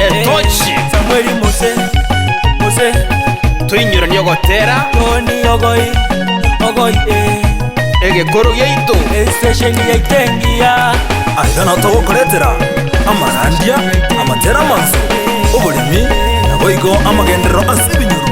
Etochi. Samweli Mose, Mose, Toinyoranie ogotera Toni ogoi, ogoi eh. egekoro giaito. Estesheni yaito engiya Aiga natogokoretera amarandia, amatera amanso, oboremi, naboigo amagenderero ase ebinyoro.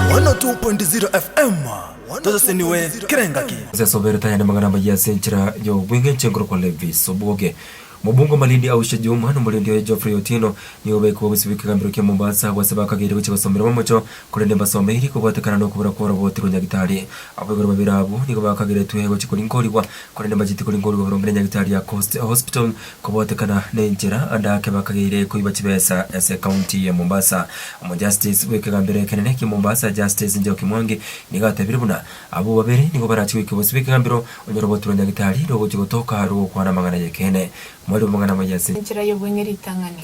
102.0 FM. tosesenigwe kera engaki. Ase as'obeire tayane mang'ana amayia ase enchera y'obweng'encho igoro kwa Levis Obuoge. Omobungo o Malindi Aushe Juma na omorendi oye Geoffrey Otieno nigo obaikwa obosio bwe kegambero kia Mombasa agwo ase bakageire gochia gosomerwa momocho korende mbasomeiri kobwatekana nokobura kwa oroboti rwa nyagitari. Aboigo babere abwo nigo bakageretwe gochia korinkorigwa korende mbacheti korinkorigwa boronge ne nyagitari ya Coast Hospital Kobotekana nenchera, ande ake bakageire koiba chibesa ase County ya Mombasa. Omojustice bwekegambero ekenene kia Mombasa Justice Njoki Mwangi nigo atebire buna abwo babere nigo barachie goika bosio bwekegambero onye rogotura Nyagetari rogochia gotoka rogokwana amang'ana yekeene. Mwarire amang'ana maye ase. Enchera y'obong'e ritang'ani.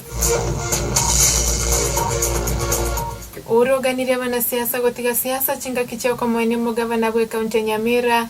Uhuru oganirie abanasiasa gotiga siasa chingaki chiokomoenia omogavana bwe county ya Nyamira.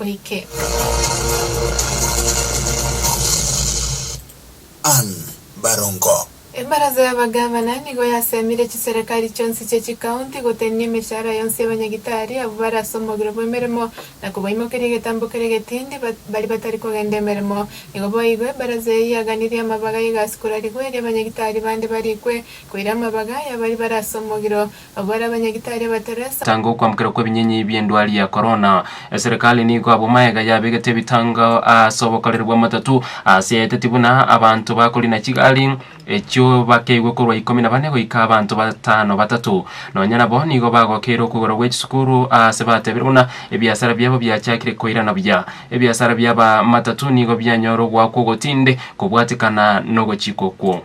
oike. Ann. Barongo. Ebaraza y'abagavana nigo yasemire chiserekari chionsi chie chikaunti gotenenia emeshahara yonsi y'abanyagitari abwo bare ase omogiro bw'emeremo na kobaimokeria egetambo keria getindi baria batari kogenda emeremo. Nigo boigo ebaraza eye yaganirie amabaga y'egasi korarigwa erio abanyagitari bande barikwe koira amabaga y'abaria bare ase omogiro Abwo are abanyagitari abateresa. Tanga okwambokerwa kw'ebinyenyi bi'endwari ya korona. Eserekari nigo abwo magega yabegete ebitango ase obokoreri bw'amatatu ase eteti buna abanto bakorina chigari echio bakeigwe korwa ikomi na bane goika abanto batano batato. Nonya nabo nigo bagokeire okogora gwe chisukuru aase batebire buna ebiasara biabo biachakire koirana buya. Ebiasara bi'abamatatu nigo bianyora ogoakwa ogotinde kobwatekana nogochika okwo.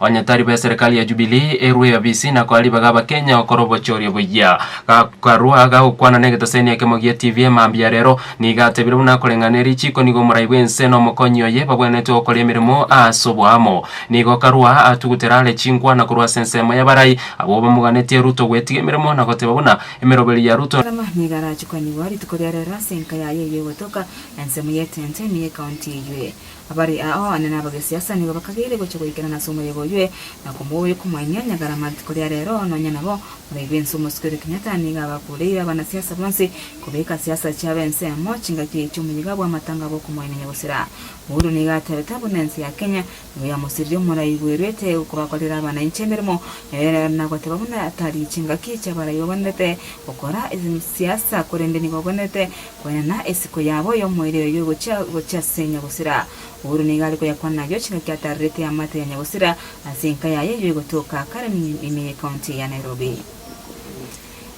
Onye tari be serikali ya Jubilee erue eyobisi na koa ribaga Abakenya okora obochoria boyia. Karua gagokwana negetoseni ekemo gia TV mambia rero nigo atebire buna akoreng'ana erichiko nigo omorai bw'ense na omokonyi oye babwenerete gokoria emeremo aase oboamo. Nigo Karua atugutera are chinkwa na korwa ase ensemo y'abarai abwo bamoganetie Ruto gwetiga emeremo na goteba buna emeroberi ya Ruto Karua nigo arachukaniwa rituko ria rero ase enka yaye ey'ogotoka ensemo y'etenteni y'ekaunti eywe. Abare ao ane nabagesiasa nigo bakageire gocha goikerana ase omoyega oywe na komoboyia komoenia nyagara mati koria rero nonya nabo muraigwe inse omosike oria Kenyatta nigo abakureire abanasiasa bonsi kobeka siasa chiabo ensemo chingaki echi omoyega bwamatanga bokomoenia nyagusira Uhuru nigo atebete abwo nense ya Kenya nigo yamosiririe omoraigwerwete kobakorera abanainchi emeremo ere nagoteba buna tari chingaki chiabaraibabanerete gokora siasa korende nigo obonerete Kwenena esiko yabo y'omoerio eyio egochia gochia ase Nyagusira. Paulo nigo are koyakwana ayio chingaki atarerete amato ya Nyagusira ase enka yaye eyio egotoka Karen ime y'ecounty ya Nairobi.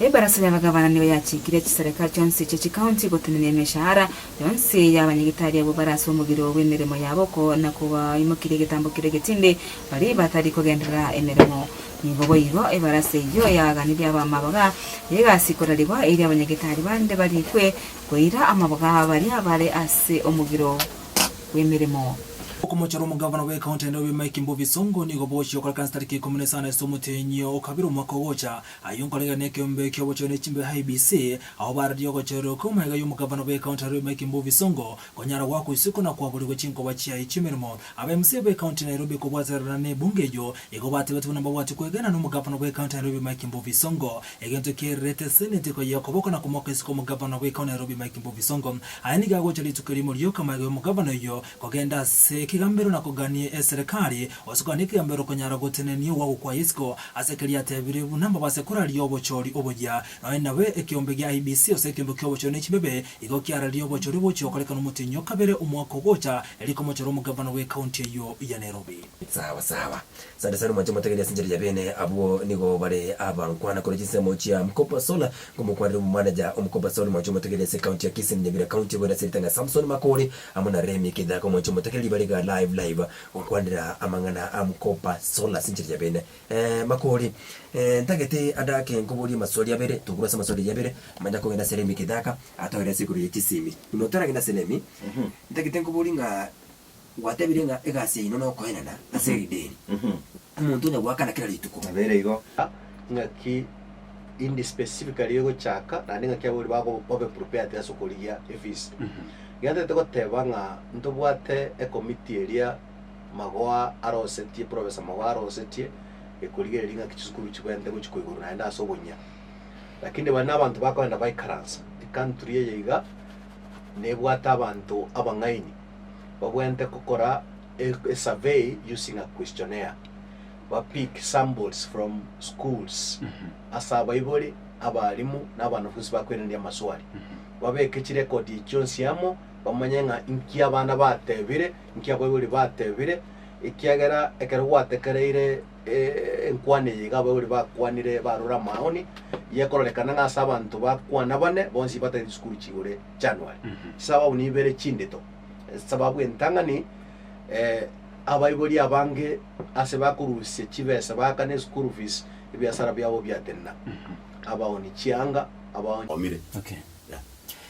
Ebarasa y'abagavana nigo yachikire chisareka chionsi chie chicounty gotenenia emeshahara yonsi y'abanyagitari abwo bare ase omogiro bw'emeremo yabo ko na kobaimokirie egetambo keria egetindi baria batari kogenderera emeremo Nigo boigo ebarasa eyio yaaganirie abamaboga, egasikorarigwa, erio abanyagetari bande barikwe koira amaboga a baria bare ase omogiro bw'emeremo. Okomochora omogavana bw'ekaunti ya Nairobi Mike Mbuvi Sonko nigo bogochia gokoreka ase tariki ikomi na isano ase omotenyo o kabere omwaka ogocha. Ayio nkoregena nekeombe ki'obochori ne chimbe IEBC, agho bararie ogochoreroka omwega y'omogavana bw'ekaunti ya Nairobi Mike Mbuvi Sonko Konyara goakwa isiko na kwaborigwa chinkoba chiaye chi'emeremo, ab'MCA b'ecounty Nairobi kobwatererana n'ebunge eyio igo batebetwe nababwati kwegena nomogavana bw'ecounty Nairobi Mike Mbuvi Sonko, egento kiairerete seneti koyia okoboko na komoka isiko omogavana bw'ecounty Nairobi Mike Mbuvi Sonko. Aya nigo agocha rituko erimo rioka magega y'omogavana oyio kogenda ase ekegambero na kogania eserekari gose kogania ekegambero konyara gotenenia ogwagokwaya isiko ase ekero riatebirwe buna mbabase koraria obochori oboyia Aye nabe ekeombe gia IEBC ase ekeombe ki'obochori ne chibebe, igo kiararie obochori bogochia gokorekana omotenyi o kabere omwaka ogocha, erio komochore omogavana bwe county eyio ya Nairobi. Sawa sawa. Sande sana mwanche motegerie ase enchera ya bene abwo nigo bare abankwana kore chinsemo chia Mkopa Solar nkomokwanera omomanager o Mkopa Solar mwanche omotegerie ase county ya Kisii na Nyamira county goeta ase ritang'a Samson Makori amo na Remi Kithako mwanche omotegerie bare iga live live gokwanera amang'ana a Mkopa Solar ase enchera ya bene. Ee, Makori, ee, ntagete adake nkoborie amaswali abere, tobure ase amaswali aria abere, manya nkogenda ase remi kidaka, atoera ase igoro ya chisimi. Buna otaragenda ase remi, ntagete nkoborie ng'a gwatebire ng'a egasi yaino nokoenana ase erideni, omonto onya goakana kera rituko. Nabeire igo, ng'aki indi specifically egochaka, naende ng'aki abwo ri bago babe prepared ase okorigia efees. Iga ntagete goteba ng'a ntobwate ecommittee eria. magoa arosetie, professor magoa arosetie, ekorigereria ng'aki chisukuru chibwenerete gochia koigoro naende ase oboyia. Lakini bari nabanto bakoenda baikaransa, ecountry eye iga nebwate abanto abang'aini babwenerete gokora e- esurvey using a questionnaire, ba pick samples from schools ase abaibori, abalimu na abanafunsi bakoiraneria amaswali, babeke chirecord echi chionsi amo, bamanye ng'a inki abana batebire, Inki abaibori batebire? Ekiagera ekero gwatekereire enkwana eye iga abaibori bakwanire barora amaoni, yekororekana ng'a ase abanto bakwana bane bonsi batagete chisukuru chigure January. Chisababu nibere chindeto. Esababu entang'ani, abaibori abange ase bakorusia chibesa baakana eschool fees, ebiasara biabo biatenena. Abaoni chianga, abaoni. Omire. Okay. Yeah.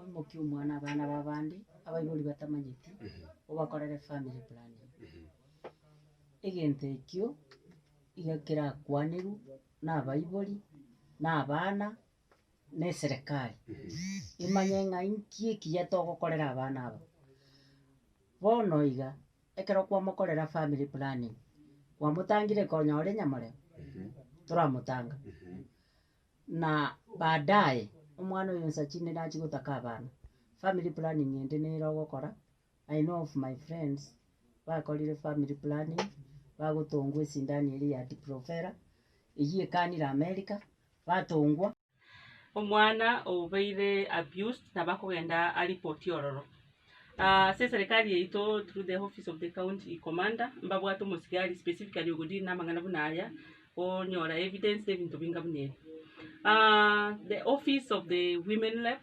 Oimokie omwana abana b'abande abaibori batamanyeti obakorere family planning. Egento ekio iga kerakwanerwe nabaibori na abana na eserekari, imanye ng'a inki ekiya togokorera abana aba. Bono iga, ekero kwamokorera family planning, kwamotangire konya ore nyamoreo, toramotanga, na baadaye, omwana oyo onsa chinde nachi gotaka abana, family planning ende nere ogokora. I know of my friends bakorire family planning bagotongwa esindani eria ya diprovera eyio ekanire America batongwa. Omwana obeire abused nabo akogenda aripoti ororo. Ase eserekari yaito through the office of the county commander mbabwate omosigari specifically ogo deal namang'ana buna aya onyora evidence na ebinto binga buna ebi. The office of the women rep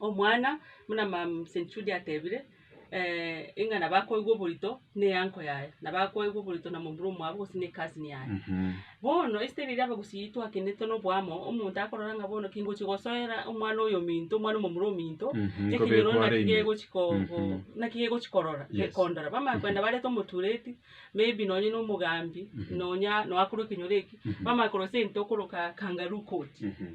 Omwana, buna Mumseni Judy atebire, ing'ana bakoigwa oborito ne'eanko yaye, na bakoigwa oborito na momura omwabo gose ne cousin yaye. Bono esiteri eria abagusii twakenete noboamo, omonto akorora ng'a bono kingochia gosoera omwana oyo ominto, omwana omomura ominto, Mhm, ekenyoro kobekwa naki are ime. gegochia ko- Mhm. ko- naki gegochia korora, Yes. gekondora. Bamanya kogenda barete omotureti, maybe nonye na omogambi, Mhm. nonya noakorwa ekenyoro eki, Mhm. bamanya korosia egento okoroka kangaroo court. Mhm.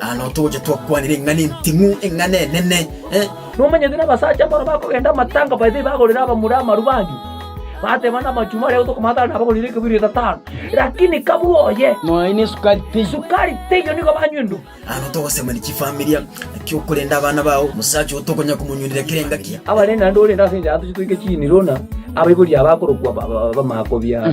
Nano toche twakwane ring'ana enting'u, eng'ana enene. Nomanyete nabasacha mbaro bakogenda amatanga baete bagorera abamura amarubange, bateba namachumbi aria gotwa Kamanthara nabagorire ekebirio etatano, lakini kabua oye. Nonya ne sukari teiyo. Sukari teiyo nigo banywa endu. Nano togosemania chifamilia, naki okorende abana bao, omosacha oo tokonyara komonywinera kera engaki. Abarenge naende orende ase enchara toche toike chiiniruna, abaibori aba akorokwa bamaakobi aa.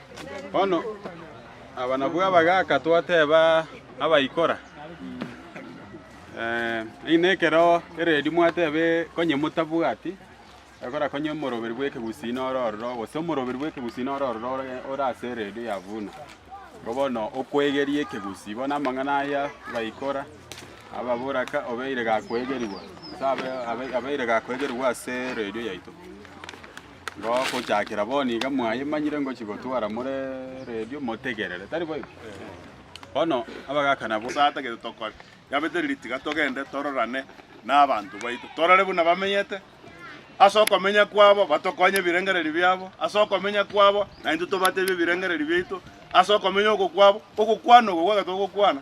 Bono abanabwo abagaaka twateeba abaikora, Ng'ina ekero ereedi mwateeba konye motabwati ekora konye omoroberi bw'ekegusii nore ororo, gose omoroberi bw'ekegusii nore ororo ore ase ereedi ya buna. Igo bono okwegeria ekegusii. Bono amang'ana aya baikora ababora ng'a obeire gakwegerigwa, abeire gakwegerigwa ase eredio yaito. Gochakera bono iga mwayemanyire ngochigotwara more redio, motegerere, tari boigo? Bono abagaka nabo. Nyasae atagete tokore. Yabete riria tiga togende tororane nabanto baito, torore buna bamenyete, ase okomenya kwabo batokonye ebirengererio biabo, ase okomenya kwabo naintwe tobatebie ebirengererio biaito, ase okomenya oko kwabo, ogokwana oko gwagete ogokwana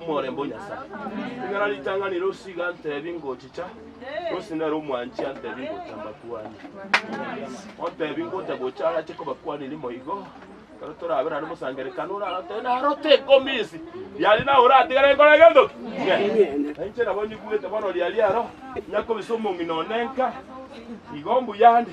Omorembe o Nyasae. Ekero aritanganire osigo antebi ngochicha, gose nere omwanchi antebi ngocha mbakuanie. Ontebi ngocha gocha arache kobakuaniri moigo, ekero torabera are mosangerekano orarote narote enkomisi yari nawe oratigare nkore gento ki? Ng'ende. Na inche nabo nyigwete bono riari aro, nyakobisa omong'ina one nka, igo mbuya nde.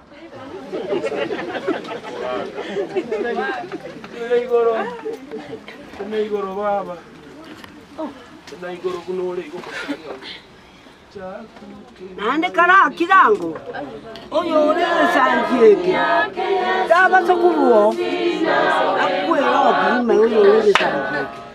Naende kare akire ango, oyore egesangi eke tabasa korwao akwere obobe ime oyore egesangi eke.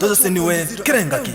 tosesenigwe kera engaki.